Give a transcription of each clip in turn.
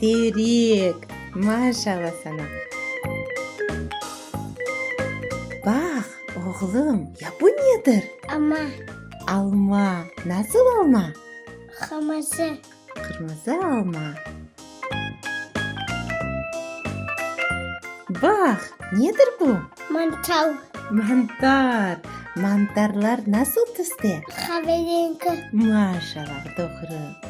Terik! Maşalla sana! Bax, oğlum, ya bu nedir? Alma. Alma. Nasıl alma? Qırmızı. Qırmızı alma. Bax, nedir bu? Mantar. Mantar. Mantarlar nasıl tüste? Qaverengi. Maşalla, doğru.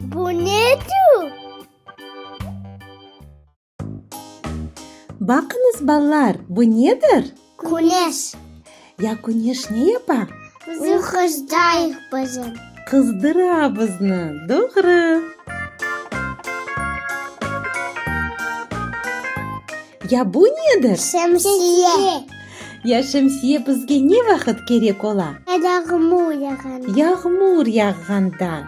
Bu ne tür? Baqıñız, balalar, bu nedir? Küneş. Ya küneş ne yapa? Bizni qızdırayıq bizim. Qızdıra bizni, doğru. Ya bu nedir? Şemsiye. Ya şemsiye bizge ne vaqıt kerek ola? Yağmur yağanda. Yağmur yağğanda.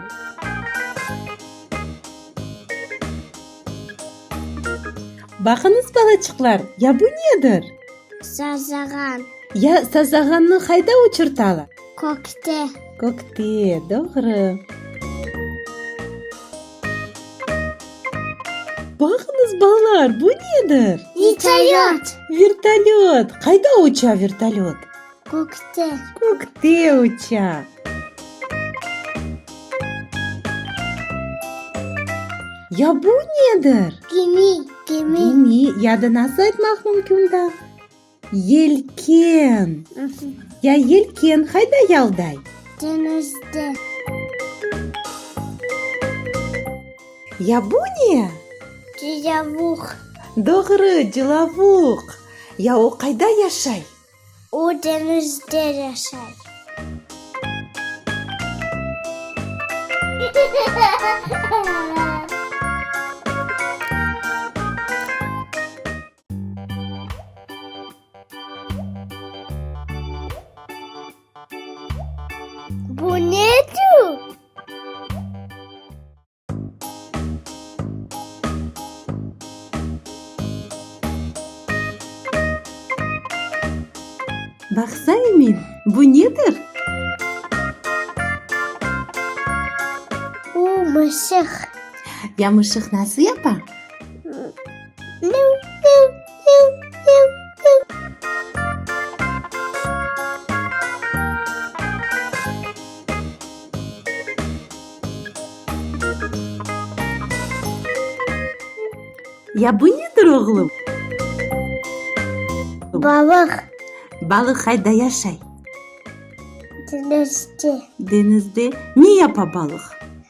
Baqıñız, balaçıqlar, ya bu nedir? Sazağan. Ya sazağannı qayda uçurtalar? Kökte. Kökte, doğru. Baqıñız, balalar, bu nedir? Vertolyot. Vertolyot. Qayda uça vertolyot? Kökte. Kökte uça. Ya bu nedir? Gemi. Gemi. Gemi ya da nasıl aytmaq mümkün da? Yelken. Ya yelken hayda yalday? Deñizde. Ya bu ne? Cilavuq. Doğru, cilavuq. Ya o qayda yaşay? O deñizde yaşay. Bu ne tür? Baqsa emin, bu nedir? Bu mışıq. Yamışıq nasıl yapa? Ya bu nedir, oğlum? Balıq. Balıq qayda yaşay? Denizde. Denizde. Ne yapa balıq?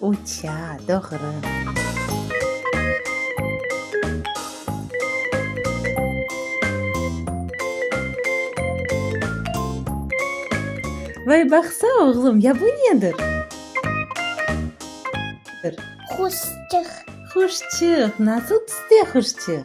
Uça, doğru. Vay, baqsa, oğlum, ya bu nedir? Quşçıq. Quşçıq. Nasıl tüste quşçıq?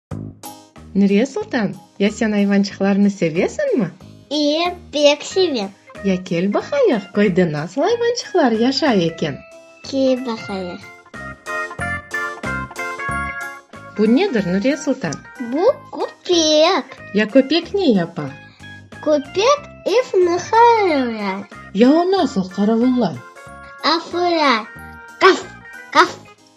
Nuriye Sultan, ya sen ayvançıqlarnı sevesiñmi? İye, pek sevem. Ya kel baqayıq, köyde nasıl ayvançıqlar yaşay eken? Kel baqayıq. Bu nedir, Nuriye Sultan? Bu, köpek. Ya köpek ne yapa? Köpek evni qaravullar. Ya o nasıl qaravullay? Afura, qaf, qaf.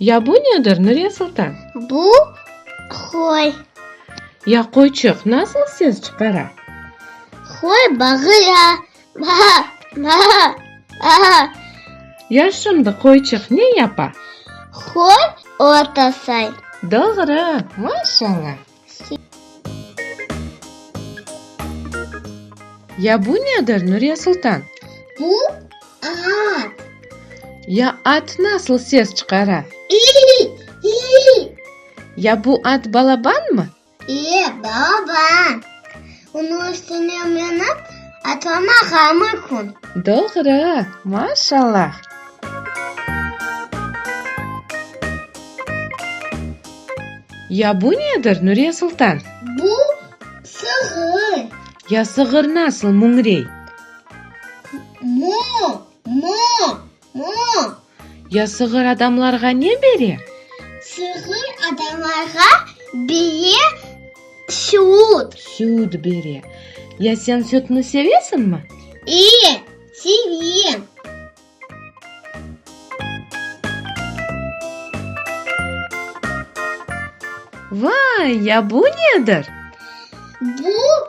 Ya bu nedir, Nuriye Sultan? Bu, qoy. Ya qoyçıq nasıl ses çıqara? Qoy bağıra, maa, maa, aa. Ya şimdi qoyçıq ne yapa? Qoy ot asay. Doğru, maşallah. Ya bu nedir, Nuriye Sultan? Bu at. Ya at nasıl ses çıqara? İy, iy. Ya bu at balabanmı? İye, balaban. Onıñ üstüne minip, atlamağa mümkün. Doğru, maşallah! Ya bu nedir, Nuriye Sultan? Bu, sığır. Ya sığır nasıl müñrey? Mo, mo! Mı? Ya sığır adamlarğa ne bere? Sığır adamlarğa bere süt. Süt bere. Ya sen sütni sevesiñmi? E, sevem. Vay, ya bu nedir? Bu.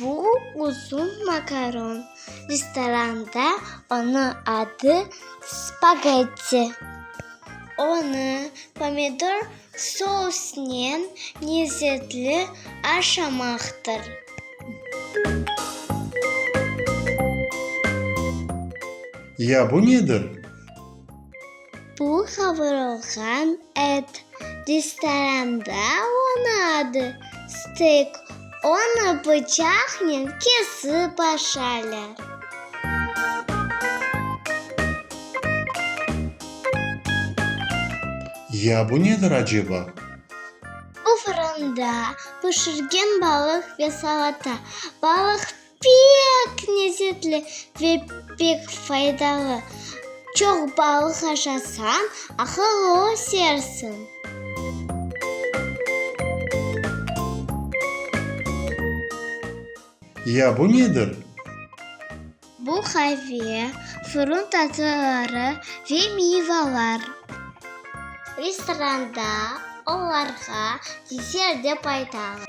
Bu uzun makaron. Restoranda onı adı spagetti. Onı pomidor sousnen lezzetli aşamaqtır. Ya bu nedir? Bu qavurılğan et. Restoranda onı adı stek. Onı bıçaqnen kesip aşalar. Ya bu nedir aceba? Bu fırında pişirgen balıq ve salata. Balıq. Pek nezzetli ve pek faydalı. Çoq balıq aşasañ, aqıllı ösersiñ. Ya bu nedir? Bu qave, fırın tatlıları ve miyvalar. Restoranda olarğa desert dep aytalar.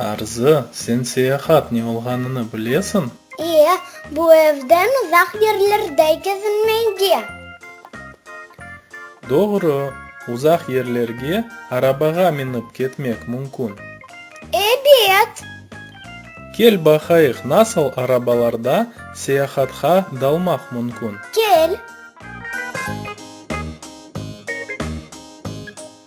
Arzı, sen seyahat ne olğanını bilesiñ? İyi, bu evden uzaq yerlerde kezinmege. Doğru, uzaq yerlerge arabağa minip ketmek mümkün. Ebet! Kel baqayıq, nasıl arabalarda seyahatqa dalmaq mümkün. Kel!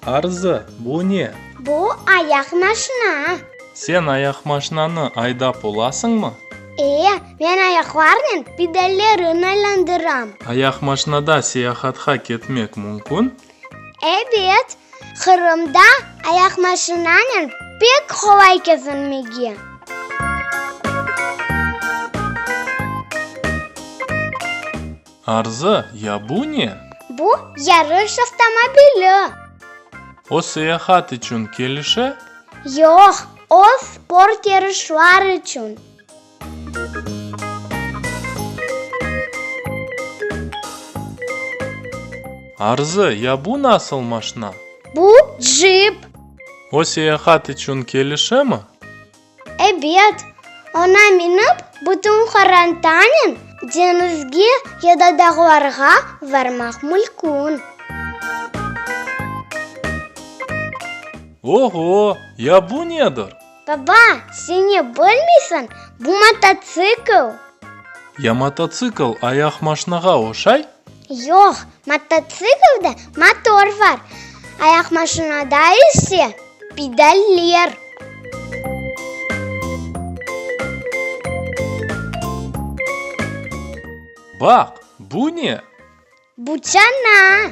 Arzı, bu ne? Bu, ayaq maşina. Sen ayaqmaşinanı aydap olasıñmı? E, men ayaqlarnen pedallerin aylandıram. Ayaqmaşinada seyahatqa ketmek mümkün? Ebet, Qırımda ayaqmaşinanen pek qolay kezinmege. Arzı, ya bu ne? Bu, yarış avtomobili. O seyahat içün kelişe? Yoq, o sport yarışlar içün. Arzı, ya bu nasıl maşna? Bu, jip. O seyahat içün kelişemi? Ebet, oña minip, bütün qorantanen deñizge ya da dağlarğa varmaq mülkün. Oho, ya bu nedir? Baba, seni bilmiysiñ, bu mototsikl. Ya mototsikl ayaq maşnağa oşay? Yoq, mototsiklde motor var, ayaqmaşinada ise pedaller. Baq, bu ne? Bu çana.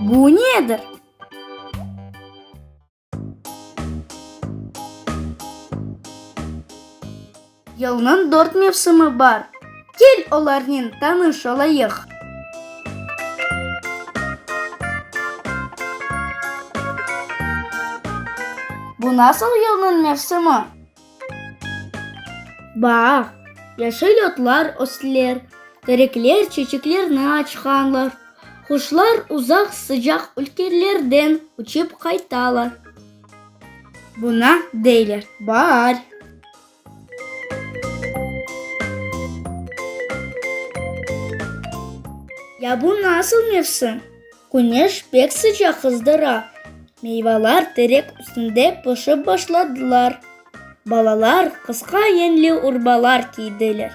Bu nedir? Yılnıñ dört mevsimi bar. Kel olarnen tanış olayıq. Bu nasıl yılnıñ mevsimi? Baag, yaşıl otlar östler, terekler çeçeklerni açqanlar, quşlar uzaq sıcaq ülkelerden uçıp qaytalar. Buna deyler baar. Ya bu nasıl mevsim? Küneş pek sıcaq qızdıra. Meyvalar terek üstünde pişip başladılar. Balalar qısqa yeñli urbalar kiydiler.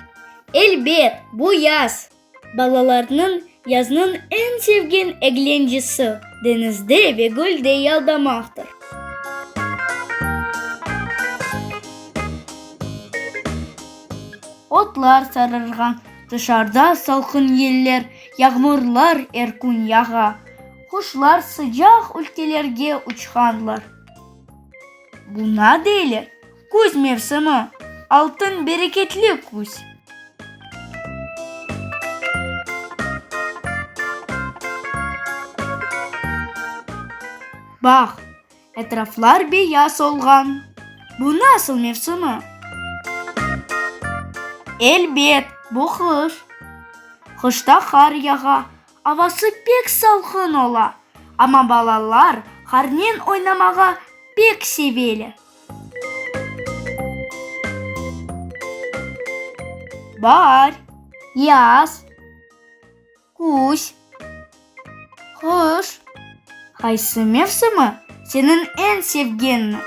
Elbet, bu yaz! Balalarnıñ yaznıñ eñ sevgen eglencesi, deñizde ve gölde yaldamaqtır. Otlar sarırğan. Tışarda salqın yeller, yağmurlar er kün yağa. Quşlar sıcaq ülkelerge uçqanlar. Buña deyler, küz mevsimi, altın bereketli küz. Bağ. Etraflar beyaz olğan. Bu nasıl mevsimi? Elbet, bu qış. Qışta qar yağa, avası pek salqın ola. Amma balalar qarnen oynamağa pek seveler. Baar, yaz. Küz. Qış. Qaysı mevsimi seniñ eñ sevgenni?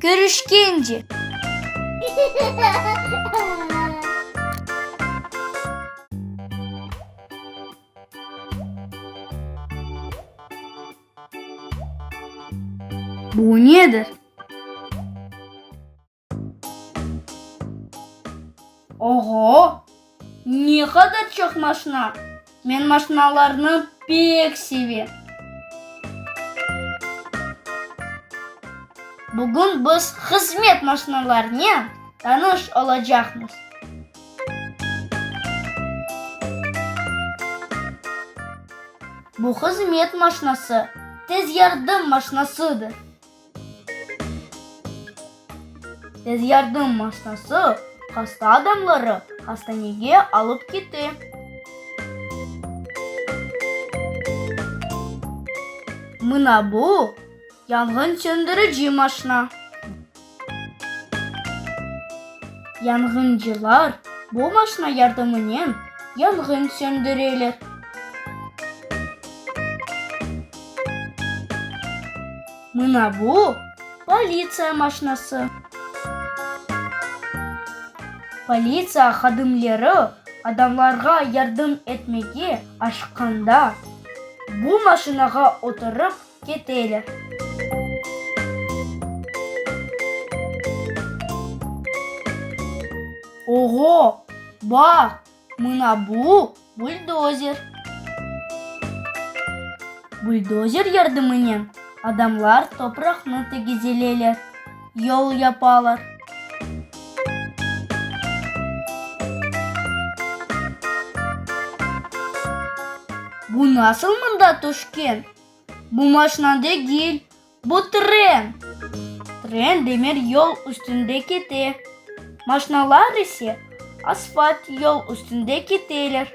Körüşkence. Bu nedir? Oğo, ne qadar çoq maşna! Men maşnalarnı pek sevem. Bugün biz hızmet maşnalarınen tanış olacaqmız. Bu hızmet maşnası tez yardım maşnasıdır. Tez yardım maşnası hasta adamları hastanege alıp kite. Mına bu, yanğın çöndürüci maşna. Yanğıncılar bu maşna yardımınen yanğın çöndüreler. Mına bu, politsiya maşnası. Politsiya hadimleri adamlarğa yardım etmege aşıqqanda, bu maşinağa oturıp keteler. Oğo, baq! Mına bu, buldozer. Buldozer yardımınen adamlar topraqnı tegizeleler, yol yapalar. Bu nasıl mında tüşken? Bu maşna degil. Bu tren! Tren demir yol üstünde kete, maşnalar ise asfalt yol üstünde keteler.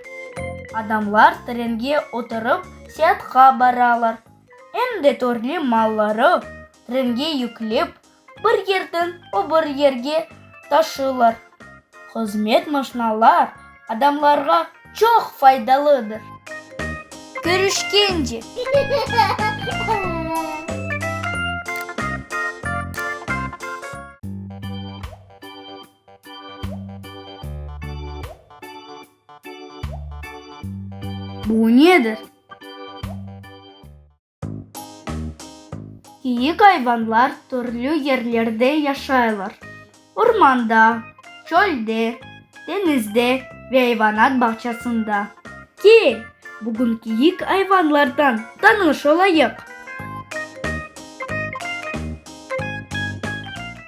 Adamlar trenge oturıp seatqa baralar, em de törlü malları trenge yüklep, bir yerden öbür yerge taşılar. Hızmet maşnalar adamlarğa çoq faydalıdır. Körüşkence! Bu nedir? Kiyik ayvanlar türlü yerlerde yaşaylar, ormanda, çölde, deñizde ve ayvanat bağçasında. Kel, bugün kiyik ayvanlardan tanış olayıq.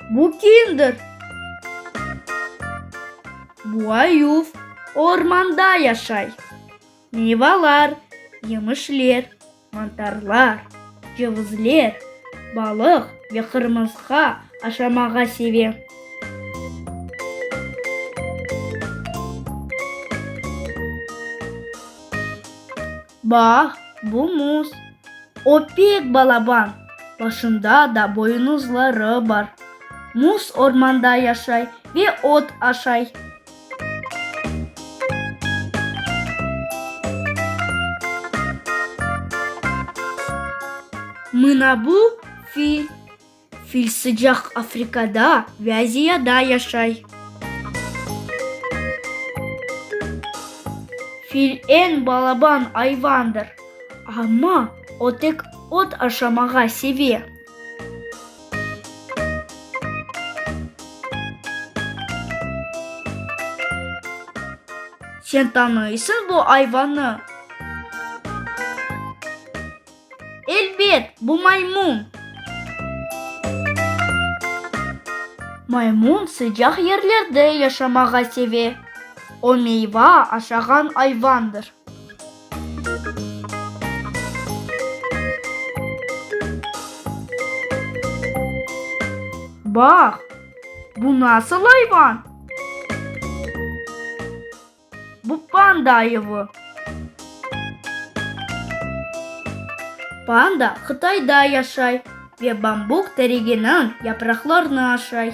Bu kimdir? Bu ayuv, o ormanda yaşay. Meyvalar, yemişler, mantarlar, cevizler, balıq ve qırmızqa aşamağa sevem. Bax, bu muz. O pek balaban, başında da boynuzları bar. Muz ormanda yaşay ve ot aşay. Mınabu fil. Fil sıcaq Afrikada ve Aziyada yaşay. Fil eñ balaban ayvandır, amma o tek ot aşamağa seve. Sen tanıysıñ bu ayvanı? Elbet, bu maymun. Maymun sıcaq yerlerde yaşamağa seve. O meyva aşağan ayvandır. Bax, bu nasıl ayvan? Bu panda ayıvı. Panda Qıtayda yaşay. Ve bambuk tereginiñ yapraqlarını aşay.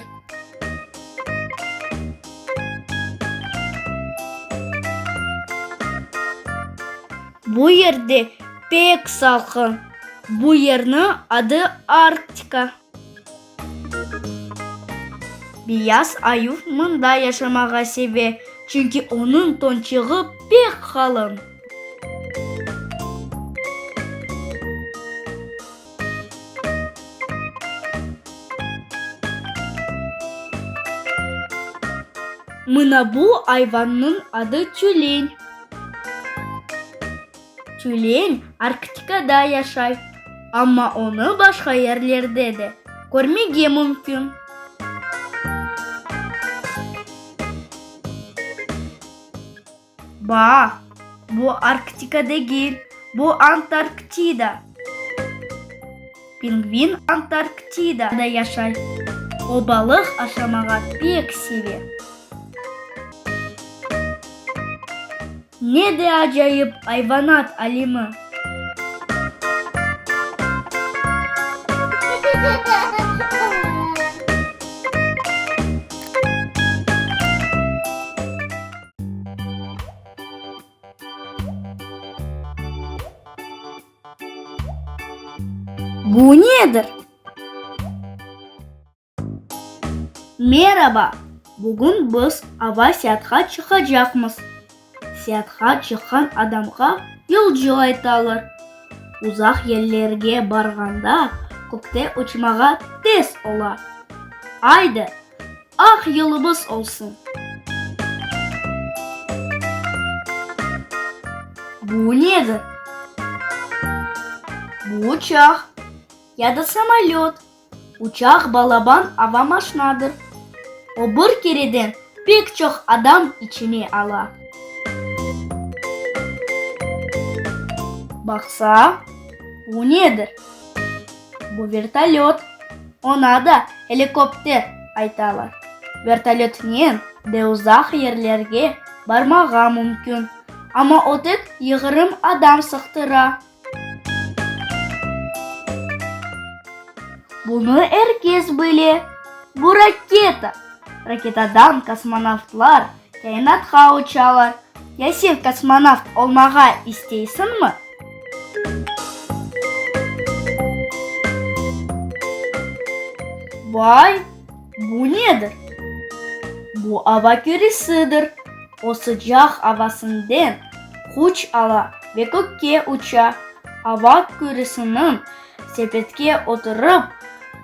Bu yerde pek salqın. Bu yerniñ adı Arktika. Beyaz ayuv mında yaşamağa seve, çünki onıñ tonçığı pek qalın. Mına bu ayvannıñ adı tülen. Tülen Arktikada yaşay, amma onı başqa yerlerde de körmege mümkün. Baa, bu Arktika degil, bu Antarktida. Pingvin Antarktidada yaşay. O balıq aşamağa pek seve. Ne de acayip ayvanat alimi! Bu nedir? Meraba, bugün biz ava seatqa çıqacaqmız. Seatqa çıqqan adamğa yolcu aytalar. Uzaq yerlerge barğanda kökte uçmağa tez ola. Aydı, Aq yılımız olsun! Bu nedir? Bu uçaq ya da samolöt. Uçaq balaban ava maşnadır. O bir kereden pek çoq adam içine ala. Baqsa, bu nedir? Bu vertolöt, oña da helikopter aytalar. Vertolötnen de uzaq yerlerge barmağa mümkün, amma ötek yığırım adam sıqtıra. Bunı er kes bile. Bu raketa. Raketadan kosmonavtlar Kainatqa uçalar. Ya sen kosmonavt olmağa isteysiñmi? Vay, bu nedir? Bu ava küresidir. O sıcaq avasınden quç ala ve kökke uça. Ava küresiniñ Sepetke oturıp,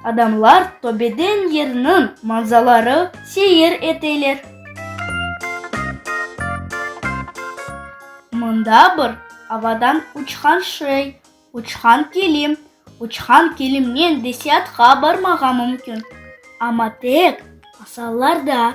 adamlar töbeden yerniñ manzaları seyir eteler. Mında bir avadan uçqan şey, uçqan kilim, uçqan kilimnen de siatqa barmağa mümkün, amma tek masallarda.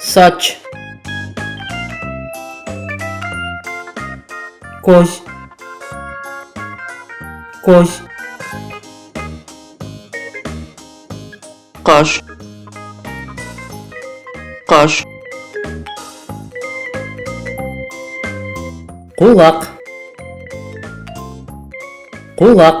Saç. Köz. Köz. Qaş. Qaş. Qulaq. Qulaq.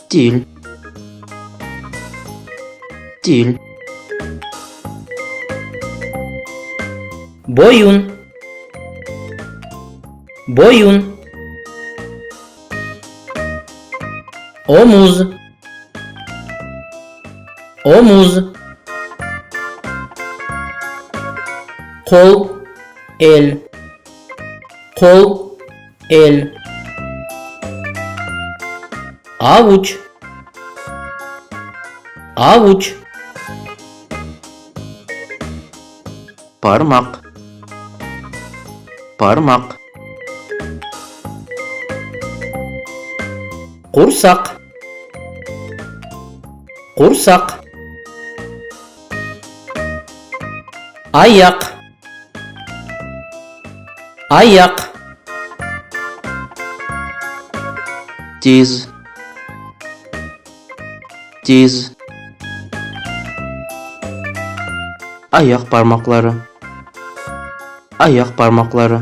Til Til Boyun Boyun Omuz Omuz Qol El Qol El. Avuç. Avuç. Parmaq. Parmaq. Qursaq. Qursaq. Ayaq. Ayaq. Diz. Diz. Ayaq parmaqları. Ayaq parmaqları.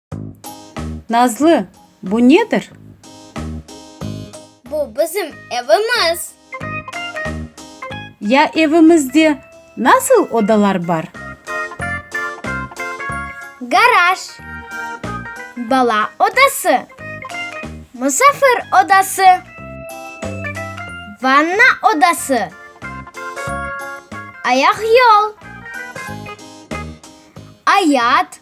Nazlı, bu nedir? Bu bizim evimiz. Ya evimizde nasıl odalar bar? Garaj, bala odası, musafir odası, vanna odası, ayaq yol, ayat,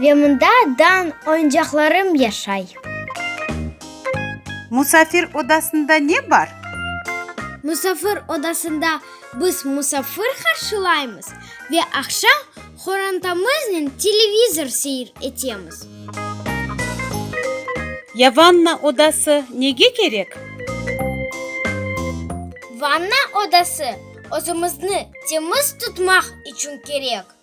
Ve mında dan oyuncaqlarım yaşay. Musafir odasında ne bar? Musafir odasında biz musafir qarşılaymız ve aqşam qorantamıznen televizor seyir etemiz. Ya vanna odası nege kerek? Vanna odası özümizni temiz tutmaq içün kerek.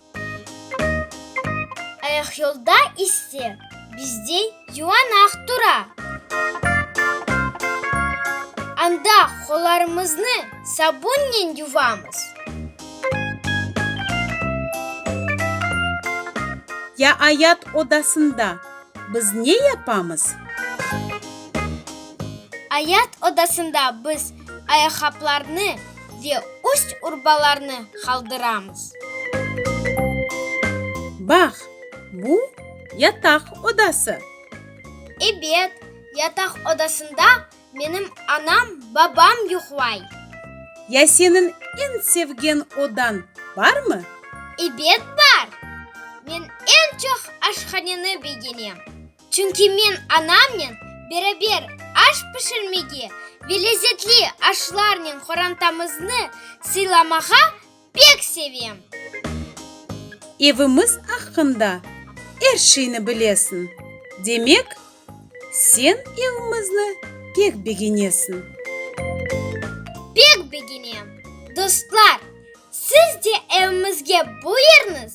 Ayaq yolda ise bizde yuvanaq tura. Anda qollarımıznı sabunnen yuvamız. Ya ayat odasında biz ne yapamız? Ayat odasında biz Ayaqqaplarnı ve üst-urbalarnı qaldıramız. Bax, bu, yataq odası. Ebet, yataq odasında menim anam, babam yuqlay. Ya senin en sevgen odan barmı? Ebet, bar. Men en çoq aşhaneni begenem. Çünki men anamnen beraber aş pişirmege ve lezetli aşlarnen qorantamıznı sıylamağa pek sevem. Evimiz aqqında er şeyni bilesiñ, demek, sen evimizni pek begenesiñ. Pek begenem. Dostlar, siz de evimizge buyurıñız!